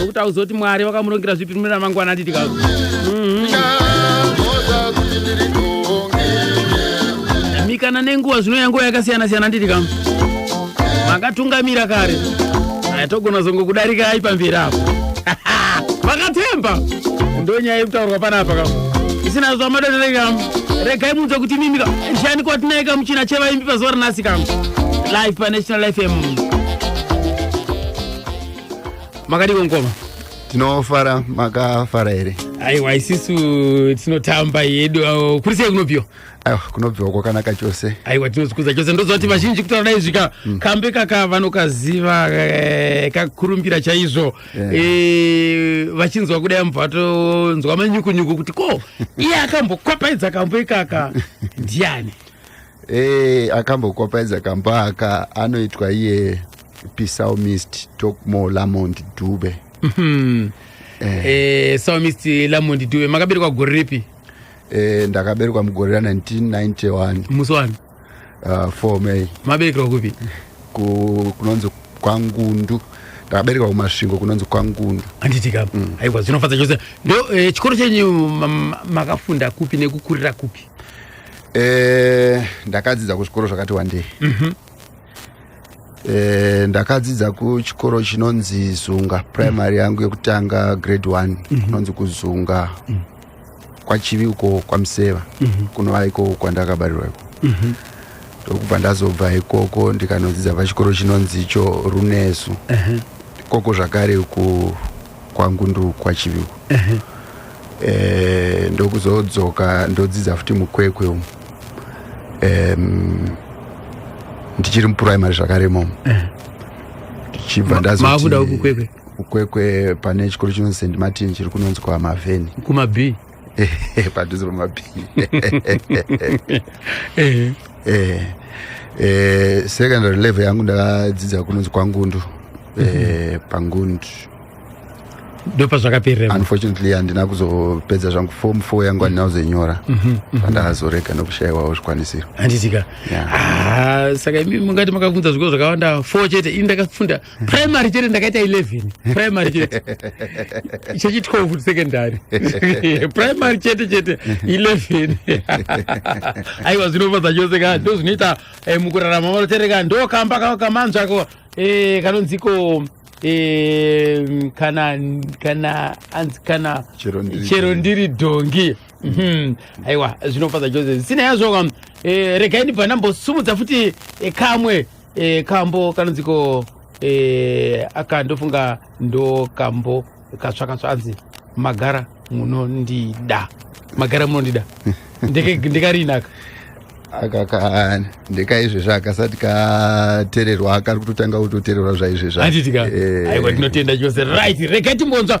nokuti auzoti mwari vakamurongera zvipi mune ramangwana aditika mikana nenguva zvino yanguva yakasiyana siyana nditika makatungamira kare aya togona zongo kudarikai pamberi apo vakatemba ndonyaya yekutaurwa panapa kam isina zvamadodere kam regai munzwa kuti mimi kam shani kwatinaye kamuchina chevaimbi pazuva ranasi kam live panational fm makadiko ngoma tinofara makafara here aiwa isisu tinotamba yedu uh, kuri sei kunobviwa aiwa kunobviwa kwakanaka chose aiwa tinozikuza chose ndoziva kuti vazhinji kutaura dai zvika mm. kambe kaka vanokaziva eh, kakurumbira chaizvo yeah. e, vachinzwa kudai mubva vatonzwa manyukunyuku kuti ko iye akambokwapaidza kambo ikaka ndiani Hey, eh, akambokopaidza kamba aka anoitwa iye psalmist tokmo lamond dube mhm. eh. eh, psalmist lamond dube makaberekwa gore ripi eh, ndakaberekwa mugore ra 1991 musi wani uh, ah, 4 may maberekerwa kupi kunonzi kwangundu ndakaberekwa kumasvingo kunonzi kwangundu handiti ka mm. aiwa zvinofadza chose ndo eh, chikoro chenyu makafunda kupi nekukurira kupi Eh, ndakadzidza kuzvikoro zvakati wandei mm -hmm. eh, ndakadzidza kuchikoro chinonzi zunga primary mm. yangu yekutanga grade one mm -hmm. kunonzi kuzunga mm. kwachivi uko kwamuseva mm -hmm. kunova iko kwandakabarirwa iko mm -hmm. ndokubva ndazobva ikoko ndikanodzidza pachikoro chinonzi icho runesu uh -huh. ikoko zvakare ku kwangu ndokwa chiviwo uh -huh. eh, ndokuzodzoka ndodzidza futi mukwekwe umu um, ndichiri mupuraimary zvakare momo uh -huh. ndichibva ndazomakuda kukwekwe kukwekwe pane chikoro chinonzi st martin chiri kunonzwa mavheni kumabhii padhuze pamabhii eh. eh, eh, secondary level yangu ndakadzidza kunonzi kwangundu mhm. pangundu ndopazvakaperera unfortunately handina kuzopedza zvangu form four yangu handina kuzoinyora mhm, mhm. pandakazorega nokushayiwawo zvikwanisiro handitika ah, saka imi mungati makafunza zvikoro zvakawanda four chete ini ndakafunda primary chete ndakaita 11 primary chete chechi 12 secondary primary chete chete 11 aiwa zvinofadza chose ka ndo zvinoita eh, mukurarama vanotereka ndo kamba kamanzvako eh, kanonziko eh, kana kana anzi kana chero ndiri dhongi mhm. aiwa zvinofadza chose zvisinei yazvo regai ndibva ndambosumudza futi kamwe e, kambo kanonziko e, eh, aka ndofunga ndo kambo katsva katsva anzi magara munondida magara munondida ndekariinaka akaka ndekaizvezvi akasati katererwa akari kutotanga kutotererwa zvaizvezvi anditika eh. aiwa tinotenda chose right rega timbonzwa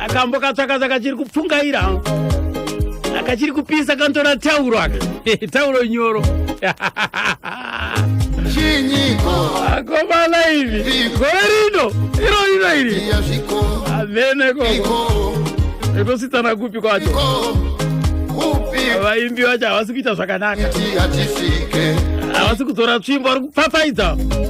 akambo katsvakatsva kachiri kupfungaira akachiri kupisa kantora tauro aka tauro nyoro akomana ivi gore rino iro rino iri amene koko ekositsana kupi kwacho vaimbi vacho havasi kuita zvakanaka havasi kudzora tsvimbo vari kupfapfaidza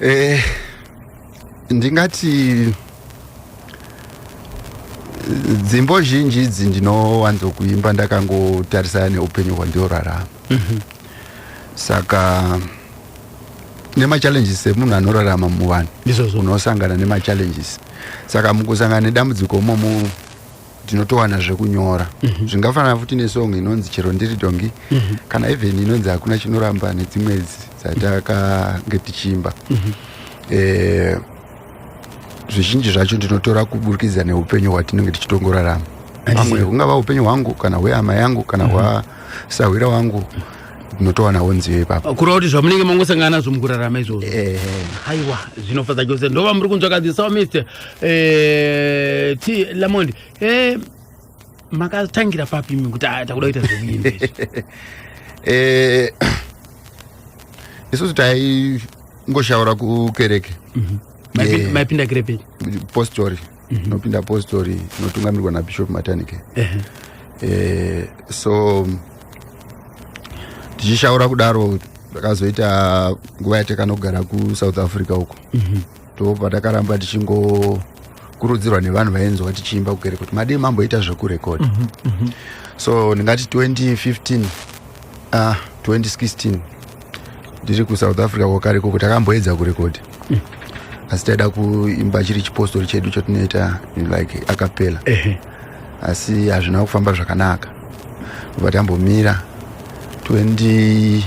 eh, ndingati dzimbo zhinji idzi ndinowanzokuimba ndakangotarisana neupenyu hwandiorarama mm -hmm. saka nemachallenges emunhu anorarama muvanhu unosangana nemachallenges saka mukusangana nedambudziko momu ndinotowana zvekunyora mm -hmm. zvingafanana futi nesong inonzi chero ndiri dongi mm -hmm. kana even inonzi hakuna chinoramba nedzimwe dzatakange tichiimba mm -hmm. eh, zvizhinji zvacho ndinotora kuburikidza neupenyu hwatinenge tichitongorarama amwe hungava upenyu hwangu kana hweama yangu kana hwasahwira wangu ndinotowanawo nziyo ipapa kureva kuti zvamunenge mangosangana nazvo mukurarama izvozvo eh. haiwa zvinofadza chose ndova muri kunzwa kadzi so mr eh, t lamond eh, makatangira papi imi kuti ah, takuda kuita zvekuimba isusu taingoshaura kukereke mhm. maipinda kerepei postori mhm. tinopinda mm -hmm. apostori inotungamirwa nabishop matanike uh eh, -huh. Eh, so tichishaura kudaro takazoita nguva yatakanogara kusouth africa uko mhm. ndo patakaramba tichingokurudzirwa nevanhu vainzwa tichiimba kukere kuti madii mamboita zvekurekodha mhm, mhm. so ndingati 2015 ah, 2016 ndiri kusouth africa kwakare koko takamboedza kurekodha mm. asi taida kuimba chiri chipostori chedu chatinoita like akapela asi hazvina kufamba zvakanaka ndobva tambomira 2018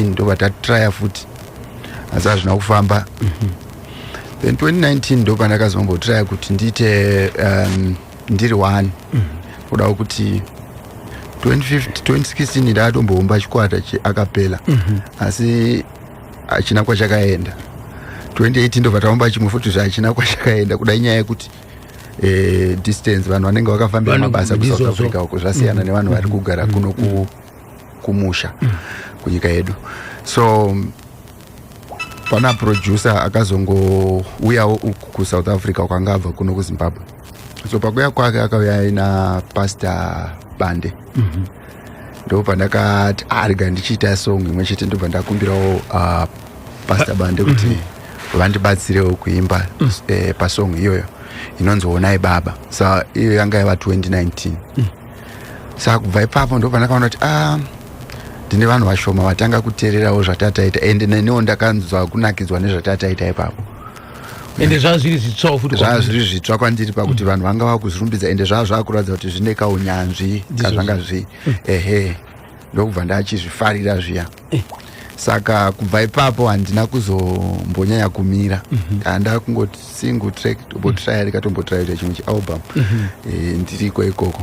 ndobva tatraya futi asi hazvina kufamba mm -hmm. then 2019 ndopandakazombotraya kuti ndiite um, ndiri wani mm. kudawo kuti 2016 ndaatomboumba chikwata cheakapela mm -hmm. asi hachina kwachakaenda 2018 ndobva taumba chimwe futi zvachina kwachakaenda kuda inyaya yekuti eh, distance vanhu vanenge vakafambira mabasa kusouth africa uko zvasiyana mm. nevanhu vari kugara mm. kuno mm. kumusha mm. kunyika yedu so pana producer akazongouyawo kusouth africa kwanga abva kuno kuzimbabwe so pakuya kwake akauya aina pastor bande mm -hmm. ndobva ndakati arega ah, ndichiita song imwe chete ndobva ndakumbirawo uh, pastor bande kuti mm -hmm. vandibatsirewo kuimba mm -hmm. eh, pasong iyoyo inonzi onai baba sa iyo yanga yava 2019 mm. sa kubva ipapo ndobva ndakaona kuti ah, ndine vanhu vashoma vatanga kuteererawo zvatataita ende neniwo ndakanzwa kunakidzwa nezvatataita ipapo ende zvaa zviri zvitsvawo futi zvaa zviri zvitsva kwandiri pakuti mm. vanhu vanga vakuzvirumbidza ende zvaa zvakuratidza kuti zvine kaunyanzvi kazvanga zvi mm. ehe ndokubva ndachizvifarira zviya eh. saka kubva ipapo handina kuzombonyanya kumira mhm. kana ndaa kungoti single track tombotryarika mm. tombotryarika chimwe chialbum mhm. eh, ndiriko ikoko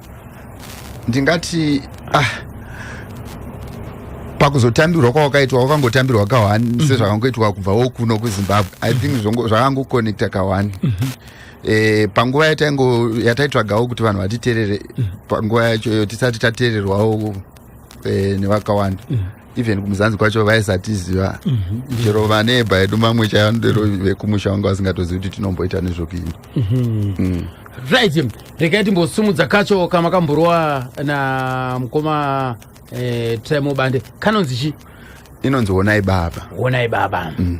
ndingati ah, pakuzotambirwa kwawakaitwa wakangotambirwa kahwani mm -hmm. sezvakangoitwa kubva wokuno kuzimbabwe i think mhm. zvakangoconnecta kahwani mm -hmm. E, panguva yataingo yataitsvagawo kuti vanhu vatiterere mm -hmm. panguva yacho iyo tisati tatererwawo e, nevakawanda mm -hmm. even kumuzanzi kwacho vaisatiziva mhm. chero vaneba edu mamwe chaiva ndero vekumusha wanga vasingatozivi kuti tinomboita nezvokuimba mhm. mm. right regai timbosumudza kacho kama kamborwa na mukoma eh, trimo bande kanonzi chi inonzi wonai baba wonai baba mm.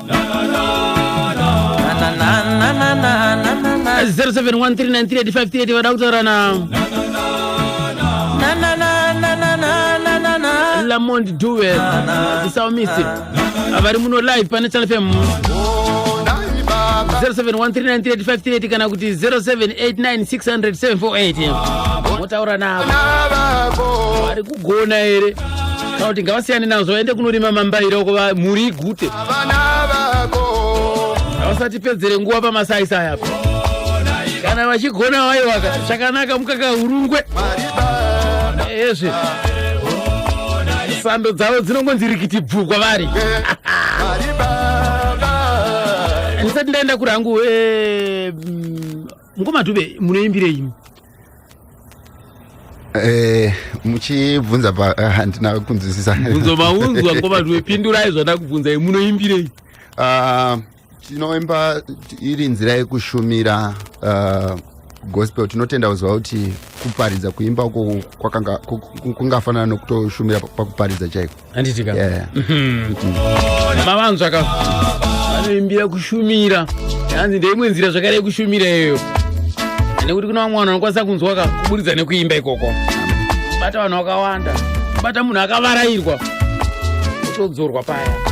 0713938538 vada kutaurana lamond duwe tisaumisi vari muno live pane channel fm 0713938538 kana kuti 0789600748 motaura navo vari kugona here kana kuti ngavasiyane nazvo vaende kunorima mambaira uko va- mhuri igute vana vako havasatipedzere nguva pamasaisai apo kana vachigona vaiwaka chakanaka mukaka urungwe mwari baba ezve sando dzavo dzinongonzi rikiti bvu kwavari mwari baba ndisati ndaenda kurangu eh, mm, mkomadube munoimbirei imi Eh, muchibvunza pa ah, handina uh, kunzwisisa bvunzo maunzwa ngo vanhu vepindurai zvada kubvunzai munoimbirei ah, tinoimba iri nzira yekushumira ah, gospel tinotenda kuziva kuti kuparidza kuimba uko kungafanana nokutoshumira pakuparidza chaiko handiti ka Yeah. mavanzwa ka vanoimbira kushumira hanzi ndeimwe nzira zvakare yekushumira iyoyo nekuti kuna vamwe vanhu vanokwanisa kunzwa ka kuburidza nekuimba ikoko bata vanhu vakawanda bata munhu akavarairwa otodzorwa paya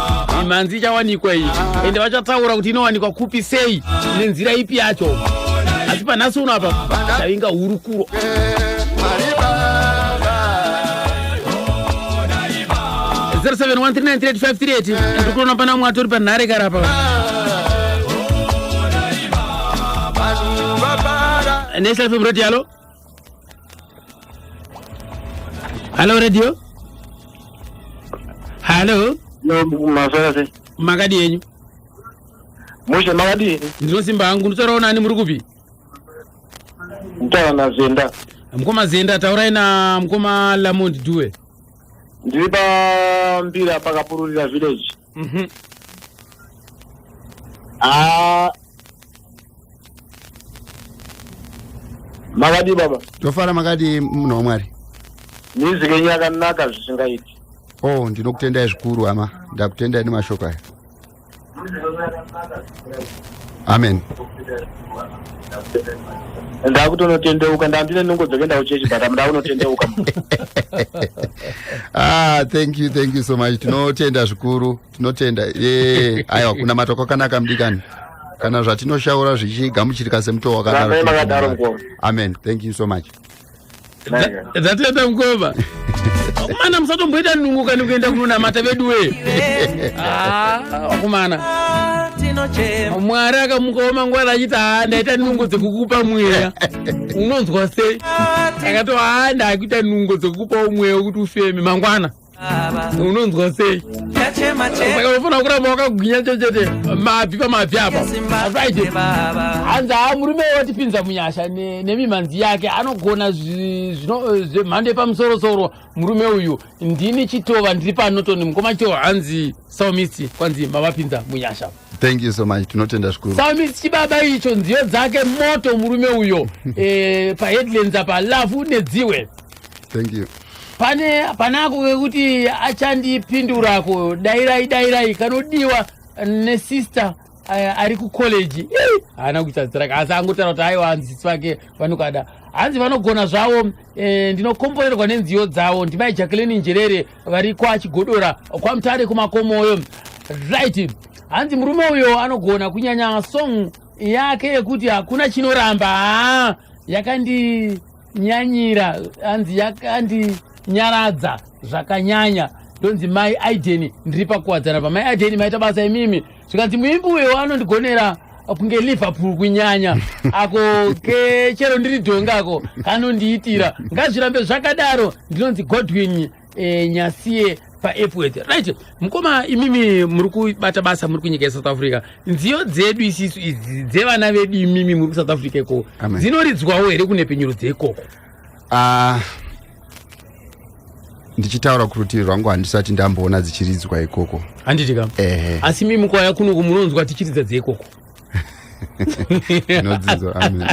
mhanzi ichawanikwa iyi ende vachataura kuti inowanikwa kupi sei nenzira ipi yacho asi panhasi uno apa tavinga hurukuro ndikuona pana mwe atori panhare karapa national fm radio yalo Hello radio. Hello. No, maswera se. Makadi yenyu. Mushe makadi. Ndinosimba hangu nditaurawo nani muri kupi? Nditaura naZenda. Mkoma Zenda taurai na mkoma Lamond Due. Ndiri pa Mbira pakapururira village. Mhm. Ah. Makadii baba? Tofara makadii munhu waMwari? Music yenyu yakanaka zvisingaiti. Oh, ndinokutendai zvikuru hama. Ndakutendai nemashoko aya. Music yenyu yakanaka. amen ndakutonotendeuka ndandine nungo dzekuenda kuchechi but ndakunotendeuka ah thank you thank you so much tinotenda zvikuru tinotenda ye aiwa kunamata kwakanaka mudikani kana zvatinoshaura zvichigamuchirika semutoo wakanaro amen thank you so much zvateta mukoma vakomana musatomboita nungu kani kuenda kunonamata vedu wee ah, vakomana mwari akamukaoma ngwara achiti haa ndaita nungo dzekukupa mweya unonzwa sei akati haa ndakuita nungo dzekukupawo mweya wekuti ufeme mangwana unonzwa sei saka unofanira kuramba wakagwinya chechete mabvi pamabvi apa afriday hanzi haa murume watipinza munyasha nemimhanzi yake anogona zvemhando yepamusorosoro murume uyu ndini chitova ndiri panoton mukoma chitova hanzi saumisi kwanzi mavapinza munyasha thank you so much tinotenda zvikuru saumisi chibaba icho nziyo dzake moto murume uyo e, paheadlands apa lavhu nedziwe thank you pane panako kekuti achandipindurako dairai dairai kanodiwa nesister eh, ari kucollege haana kuita zita rake asi angotaura kuti aiwa hanzi sisi vake vanokada hanzi vanogona zvavo eh, ndinokomborerwa nenziyo dzavo ndimai jacqueline njerere vari kwachigodora kwamutare kumakomoyo right hanzi murume uyo anogona kunyanya song yake yekuti hakuna chinoramba haa yakandi nyanyira hanzi yakandinyaradza zvakanyanya ndonzi mai aideni ndiri pakuwadzana pamai aideni maita basa imimi zvikanzi muimbi uyo anondigonera kunge liverpool kunyanya ako ke chero ndiri dhongako kanondiitira ngazvirambe zvakadaro ndinonzi godwin eh, nyasiye paepworth right mukoma imimi muri kubata basa muri kunyika yesouth africa nziyo dzedu isisu idzi dzevana vedu imimi muri kusouth africa ikoko Amen. dzinoridzwawo here kune penyuro dzeikoko Ah, ndichitaura kuti rutivi rwangu handisati ndamboona dzichiridzwa ikoko handiti kam ehe asi mimi kwaya kunoku munonzwa tichiridza dzeikoko Zvinodzidzwa, amen.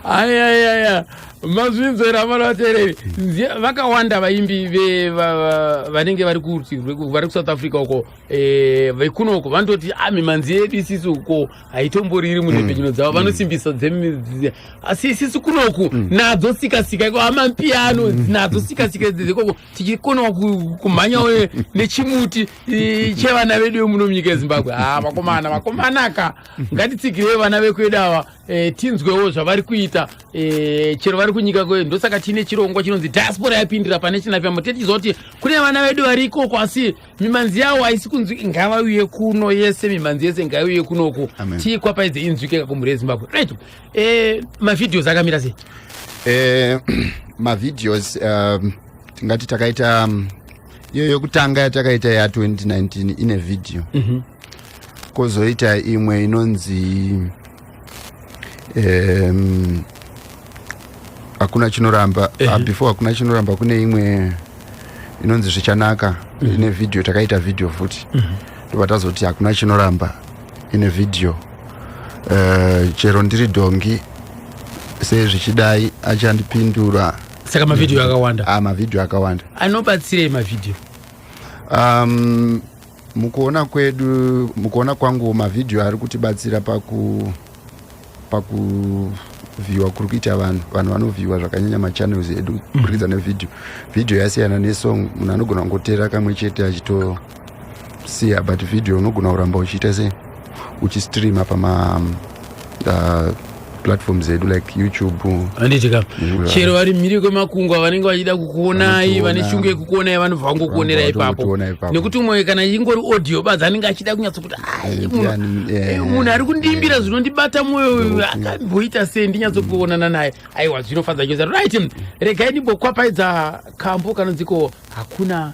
ayayaya mazvinzwera vana vateereri Nzi- vakawanda vaimbi ve- va- va- vanenge vari kurutivi rweku- vari kusouth africa uko eh, vekuno uko vanototi "Ah, mimanzi yedu isisi uko haitomboriri munhepfenyuno dzavo vanosimbisa dzemi- dzi- asi isisi kunoku nadzo sikasika iko amampiano nadzo sikasika dzekoko tichikonawo kumhanyawo nechimuti chevana vedu vemuno munyika yezimbabwe ha ah, vakomana vakomanaka ngatitsigirei vana vekwedu ava e, tinzwewo zvavari kuita e, chero vari kunyika kwedu ndosaka tiine chirongwa chinonzi diaspora yapindira pane chinafyamo tetichiziva kuti kune vana vedu vari ikoko asi mimanzi yawo haisi kunzwi ngavauye kuno yese mimanzi yese ngaiuye kunoku tiikwapaidze inzwikeka kumhuri yezimbabwe right eh, mavideos akamira sei eh, mavideos um, tingati takaita um, iyo yokutanga yatakaita ya 2019 ine video mm -hmm. kozoita imwe inonzi um, hakuna chinoramba eh. uh, before hakuna chinoramba kune imwe inonzi zvichanaka mm. ine vhidhiyo takaita vhidhiyo futi mm -hmm. ndobva tazoti hakuna chinoramba ine vhidhiyo uh, chero ndiri dhongi sei zvichidai achandipindura saka mavhidhiyo akawanda ah, mavhidhiyo akawanda anobatsirei mavhidhiyo um, Mukuona kwedu, mukuona kwangu mavhidhiyo ari kutibatsira paku pakuvhiyiwa kuri kuita vanhu vanhu vanovhiyiwa zvakanyanya machannels edu mm. kuburikidza nevhidhiyo vhidhiyo yasiyana nesong munhu anogona kungoteera kamwe chete achitosiya but vhidhiyo unogona kuramba uchiita sei uchistreama pama um, uh, platform zedu like youtube handiti ka chero vari mhiri kwemakungwa vanenge vachida kukuonai vane shungu yekukuonai vanobva vangokuonera ipapo nekuti umwe kana ingori audio badzi anenge achida kunyatso kuti eh, munhu ari kundiimbira eh. zvinondibata mwoyo akamboita sei ndinyatsokuonana naye aiwa zvinofadza chose right regai ndimbokwapfaidza kambo kanonziko hakuna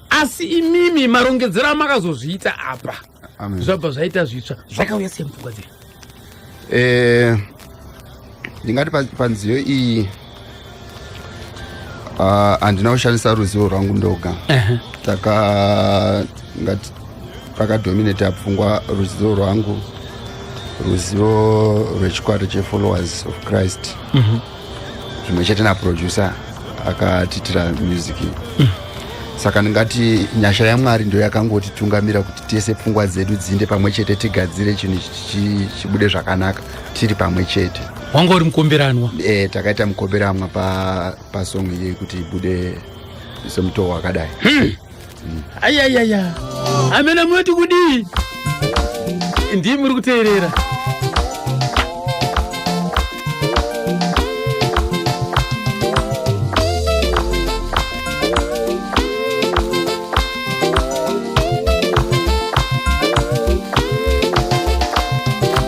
asi imimi marongedzero amakazozviita apa zvabva zvaita zvitsva zvakauya sei mupfungwa dzenyu eh, ndingati panziyo iyi ah, handina uh, kushandisa ruzivo rwangu ndoga uh -huh. taka ngati pakadominate apfungwa ruzivo rwangu ruzivo rwechikwata chefollowers of christ mm -hmm. zvimwe chete naproducer akatiitira music mm. saka ndingati nyasha yamwari ndo yakangotitungamira kuti tese pfungwa dzedu dzinde pamwe chete tigadzire chinhu chibude zvakanaka tiri pamwe chete wanga uri mukomberanwa e, takaita mukomberanwa pasong pa iyi kuti ibude semutoo wakadai hmm. ayayaya amena munoti kudii ndii muri kuteerera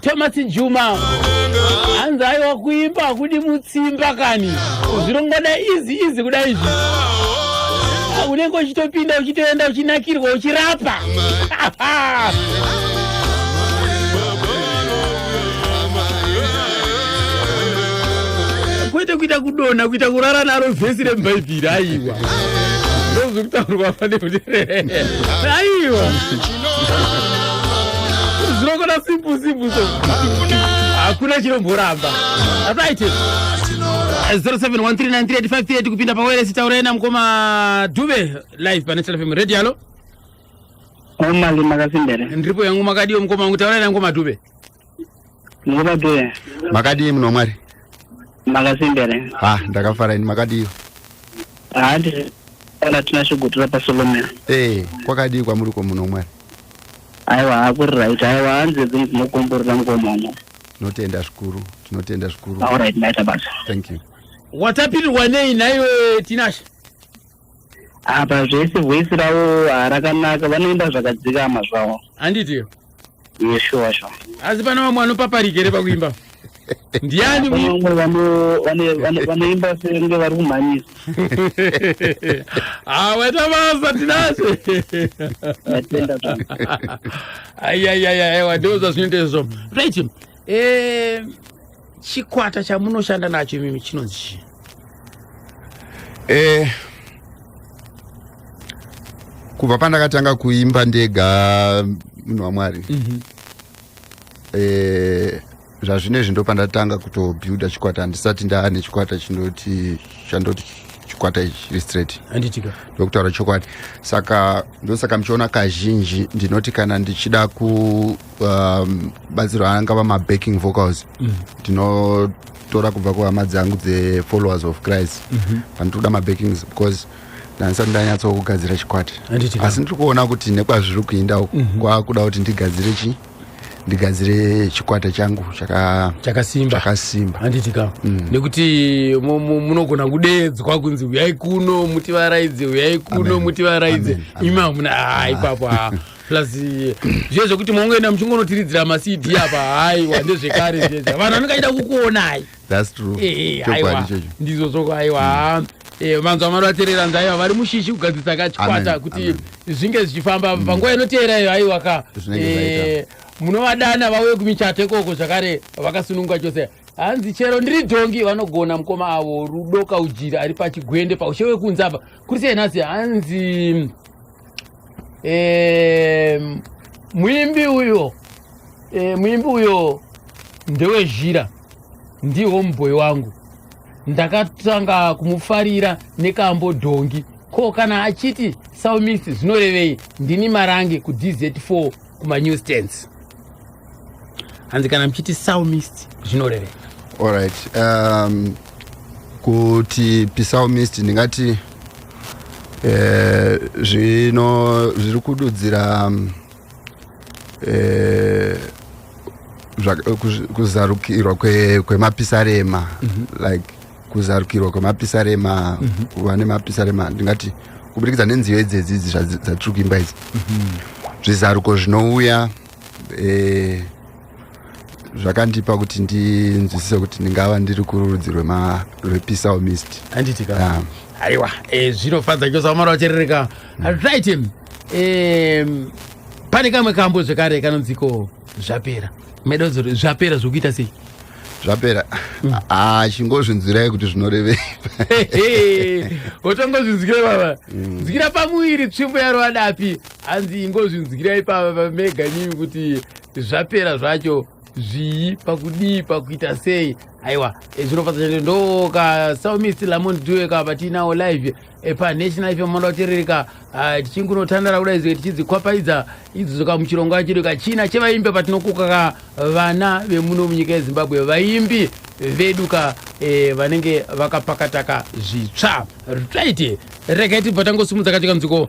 thomas juma hanzi aiwa kuimba hakudi mutsimba kani zvirongoda izi izi kuda izvi unenge uchitopinda uchitoenda uchinakirwa uchirapa kwete kuita kudonha kuita kurara naro vhesi remubhaibheri mudhiri aiwa ndozvi kutaurwa pane mudhiri aiwa zvinokona simple simple so hakuna chinomboramba asaite 0713938538 kupinda pawairesi taurai namukoma dube live pane telefm radio alo omali makasimbere ndiripo yangu makadiwo mukoma wangu taurai namukoma dube Ndikubate. Makadii mno mwari? Makasimbere. Ah, ndakafara ini makadii? Ah, ndiri kana tinashogotora paSolomon. Eh, kwakadii kwamuri ko muno mwari? Aiwa hakuri right. Aiwa hanzi zvinhu zvinokomborera mukomomo. Tinotenda zvikuru. Tinotenda zvikuru. All right, maita basa. Thank you. Watapirirwa nei naiwe Tinashe? apa zvese voice ravo harakanaka vanoimba zvakadzikama zvavo handitiyo yeshuwa shuwa asi pane vamwe vanopaparika here pakuimba ndiani vanoimba senge vari kumhanyisa awaita ah, basa tinase aiyaiyaia aiwa ndozvazvinoita izvozvo right eh, chikwata chamunoshanda nacho imimi chinonzi chii eh, kubva pandakatanga kuimba ndega munhu wamwari mm -hmm. eh, zvazvinezvi ndo pandatanga kutobuilda chikwata handisati ndaa nechikwata chinoti chandoti chikwata ichi chiri straight handitika ndokutaura chokwadi saka ndosaka muchiona kazhinji ndinoti kana ndichida ku um, batsiro angava mabacking vocals mm. tinotora kubva kuhama dzangu dzefollowers of christ mm-hmm. panditoda mm -hmm. mabackings because ndanisati ndanyatsawo kugadzira chikwati asi ndiri kuona kuti nekwazviri kuinda uku mm -hmm. kwakuda kuti ndigadzire chii ndigadzire chikwata changu chakasimba handitika mm. nekuti munogona kudeedzwa kunzi uyai kuno mutivaraidze uyai kuno mutivaraidze imi hamuna ha ah, ipapo ha plus eh, zviye zvekuti mongoenda muchingonotiridzira macd apa haiwa ndezvekare zviye vanhu vanenge aida kukuonai thats true eh, eh, aiwa ndizvo zvoko aiwa mm. Eh, vanzwa mwari vateerera nzaiva vari mushishi kugadzirisa kachikwata kuti zvinge zvichifamba mm. panguva inoteera iyo aiwa ka eh, munovadana vauye kumichato ikoko zvakare vakasununguka chose hanzi chero ndiri dhongi vanogona mukoma avo rudo kaujiri ari pachigwende paushe wekunzapa kuri sei nhasi hanzi e, muimbi uyo e, muimbi uyo ndewe zhira ndiwo mubhoyi wangu ndakatanga kumufarira nekambo dhongi ko kana achiti saumisi zvinorevei ndini marange kudz4 kumanew stands hanzi kana muchiti psalmist zvinoreveka allright um, kuti psalmist ndingati eh, zvino zviri kududzira um, eh, kuzarukirwa kwemapisarema kwe mm -hmm. like kuzarukirwa kwemapisarema mm -hmm. kuva nemapisarema ndingati kubudikidza nenziyo idzedzidzi dzatiri kuimba idzi mm -hmm. zvizaruko zvinouya e, zvakandipa kuti ndinzwisise kuti ndingava ndiri kurudzi rwepisalmist anditi ka ah. aiwa e, zvinofadza chose vamara vacherereka right e, pane kamwe kambo zvekare kanonziko zvapera meda kuzoti zvapera zvokuita sei zvapera mm. achingozvinzwirai kuti zvinorevei otongozvinzwira baba mm. nzwira pamuviri tsvimbo yaro adapi hanzi ingozvinzwirai pamega imimi kuti zvapera zvacho zvii pakudii pakuita sei aiwa eh, zvinofadza chete ndoka saumist lamon due ka vatiinawo live eh, panational fm moda kuterereka ah, tichingunotandara kuda izoi tichidzikwapaidza idzidzo ka muchirongwa chedu ka china chevaimbi patinokuka ka vana vemuno munyika yezimbabwe vaimbi vedu ka eh, vanenge vakapakataka zvitsva ritaiti regai tibva tangosimudza katika nziko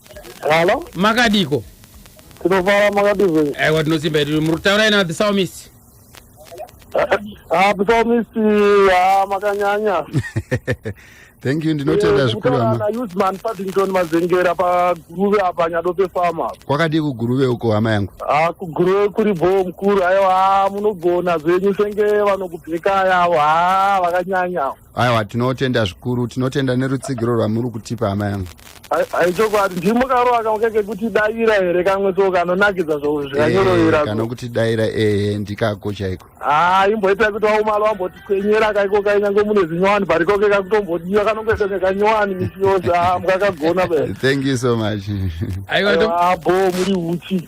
Halo, makadiko tinofara makadizve. aiwa tinosimba yedu muri kutaura ina the psalmist Ah, psalmist, ah, makanyanya. thank you ndinotenda zvikuru Kutaura hama na Usman Paddington Mazengera paGuruve apa Nyadope Farm apa. kwakadii kuguruve uko hama yangu Ah, kuGuruve kuri bhoo mukuru. Aiwa, ah, munogona zvenyu senge vanokubheka avo. Ah, vakanyanya. aiwa tinotenda zvikuru tinotenda nerutsigiro rwamuri kutipa hama yangu aichokwadi ndimo karowa kamwe kekekuti daira here kamwe so kanonakidza zvozvikanyoroira eh, kanokuti daira ehe ndikako chaiko haa imboita kuti waumalo wamboti kwenyera kaiko kainyange mune zinyowani barikoke kakutombodiwa kanongoita nekanyowani misi yose haa mukakagona be thank you so much aiwa bo muri uchi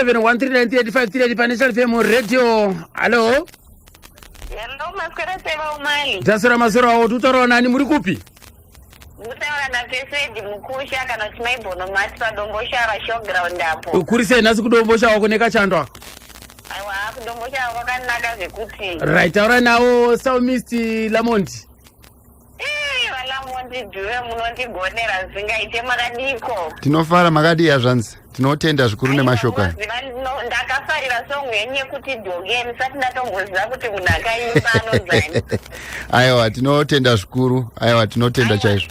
0713985385 pane chalifm radio hallo Hello, maswera seva umani. dzasira masoro awo tutaurawo nani muri kupi Kutaura na Fesedi Mukusha kana kuti Maibono Mati paDomboshava showground apo. kuri sei nhasi kudombosha wako nekachando ako Aiwa, kuDomboshava kwakanaka zvekuti. right taura nawo psalmist lamondi Eh, vana mondidhuve munondigonera zvingaite makadiko tinofara makadii hazvanzi tinotenda zvikuru nemashoko aya Munoziva ndino- ndakafarira song yenyu yekuti doge ndisati ndatomboziva kuti munhu akaimba anozani aiwa tinotenda zvikuru aiwa tinotenda chaizvo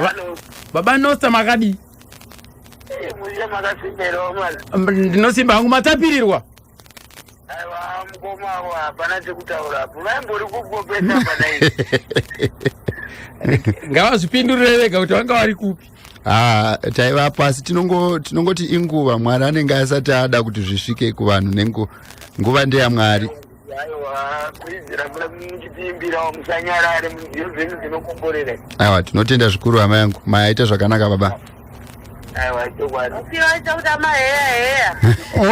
Va- Hello. baba nosta makadii Eh, muye makasimberawo mwana. M- ndinosimba hangu matapirirwa Aiwa mukoma avo hapana chekutaura apo. Vaimbori kugopesa hapana izvi. ngavazvipindurire vega kuti vanga vari kupi Ah, taiva pasi tinongo tinongoti inguva mwari anenge asati ada kuti zvisvike kuvanhu nengu nguva ndeyamwari aiwa tinotenda zvikuru hama yangu mayaita zvakanaka baba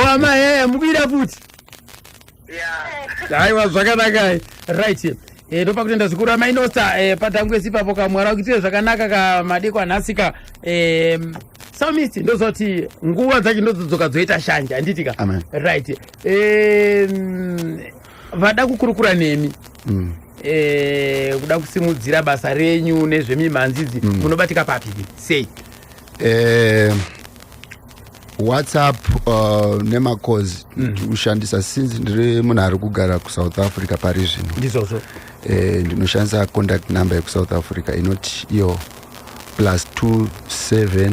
hama yaya mukuida futi aiwa zvakanakai right e, eh, ndopa kutenda zvikuru amai nosta e, eh, patangwesi ipapo kamwara kuitire zvakanaka kamadeko anhasika e, eh, samist ndozoti nguva dzacho ndozodzoka dzoita shanje handitika right Em, vada kukurukura nemi Mm. Eh, kuda kusimudzira basa renyu nezvemimhanzi idzi munobatika papi sei Eh, whatsapp uh, nemacoz ndikushandisa since ndiri munhu ari kugara kusouth africa pari zvino ndizvozvo eh, ndinoshandisa contact number yekusouth africa inoti iyo plus 27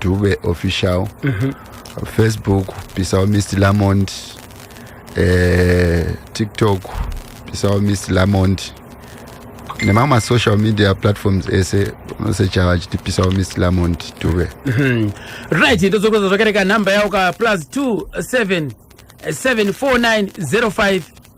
dube official mm -hmm. facebook pisawo mist lamond eh, tiktok pisawo mist lamond nemamwe masocial media platforms ese unosecha vachiti pisawo mist lamond dube mm -hmm. right ndozokweza zvakareka nhamba yao ka plus 27 749 05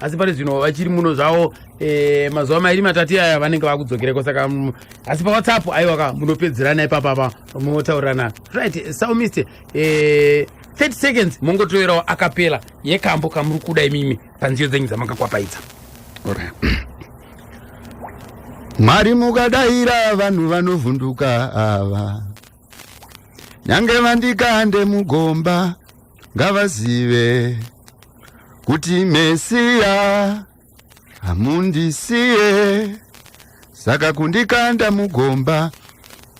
asi pari zvino vachiri muno zvavo eh, mazuva mairi matati aya vanenge vakudzokereko saka mm, asi pawhatsapp aiwa ka munopedzerana ipapapa motaurirana right saumiste 30 eh, seconds mongotoerawo akapela yekambo kamuri kuda imimi panziyo dzenyu dzamakakwapaidza mwari mukadaira vanhu vanovhunduka ava nyange vandikande mugomba ngavazive kuti mesiya hamundisiye saka kundikanda mugomba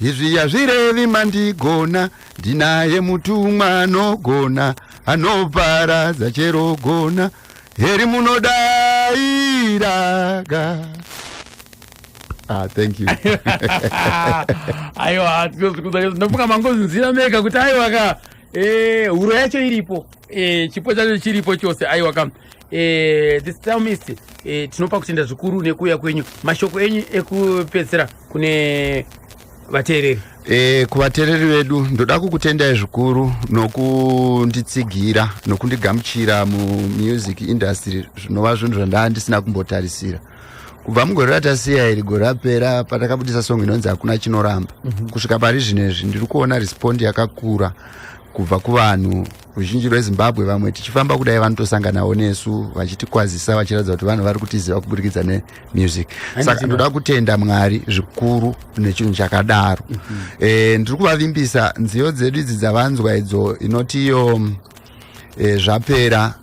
izvi yazvirevi mandigona ndinaye mutumwa anogona anoparadza chero gona heri munodairaga Ah, thank you. aiwa ndinofunga mangozinzira mega kuti aiwa ka eh, huro yacho iripo eh, chipo chacho chiripo chose aiwa ka eh, this time tinopa kutenda zvikuru nekuuya kwenyu mashoko enyu ekupedzisira kune vateereri E, kuvatereri vedu ndoda kukutendai zvikuru nokunditsigira nokundigamuchira mumusic industry zvinova zvinhu zvandaa ndisina kumbotarisira kubva mugore ratasiya iri gore rapera patakabudisa song inonzi hakuna chinoramba mm -hmm. kusvika pari zvino izvi ndiri kuona respond yakakura kubva kuvanhu ruzhinji rwezimbabwe vamwe tichifamba kudai vanotosanganawo nesu vachitikwazisa vachiratidza kuti vanhu vari kutiziva kuburikidza nemusic saka ndoda kutenda mwari zvikuru nechinhu chakadaro mm -hmm. e, ndiri kuvavimbisa nziyo dzedu idzi dzavanzwa idzo inoti iyo e, zvapera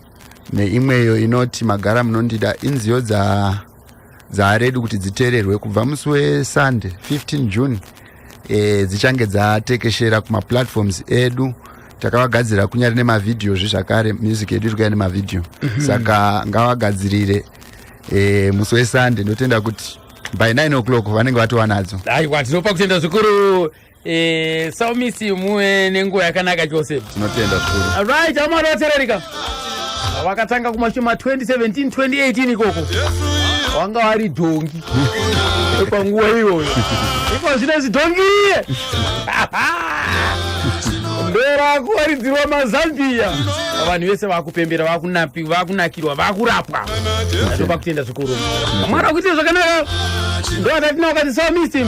neimweyo inoti magara munondida inziyo dzaaredi kuti dziteererwe kubva musi wesande 15 june e, dzichange dzatekeshera kumaplatforms edu takavagadzirira kunyari nemavhidhiyo zve zvakare music yedu iri kuya nemavhidhiyo mm -hmm. saka ngavagadzirire e, musi wesande ndotenda kuti by 9 o'clock vanenge vatova nadzo aiwa tinopa kutenda zvikuru Eh, so miss you muwe nenguva yakanaka chose. Tinotenda zvikuru. All right, amara watererika. Wakatanga kumashoma 2017 2018 ikoko. Wanga wari dhongi. Panguva iyoyo. Iko zvine zidhongi. Ndora kuwaridzirwa mazambia. Vanhu vese vakupembera vakunapi vakunakirwa vakurapwa. Ndopa kutenda zvikuru. Mwana kuite zvakanaka. Ndoda tinokati so miss him.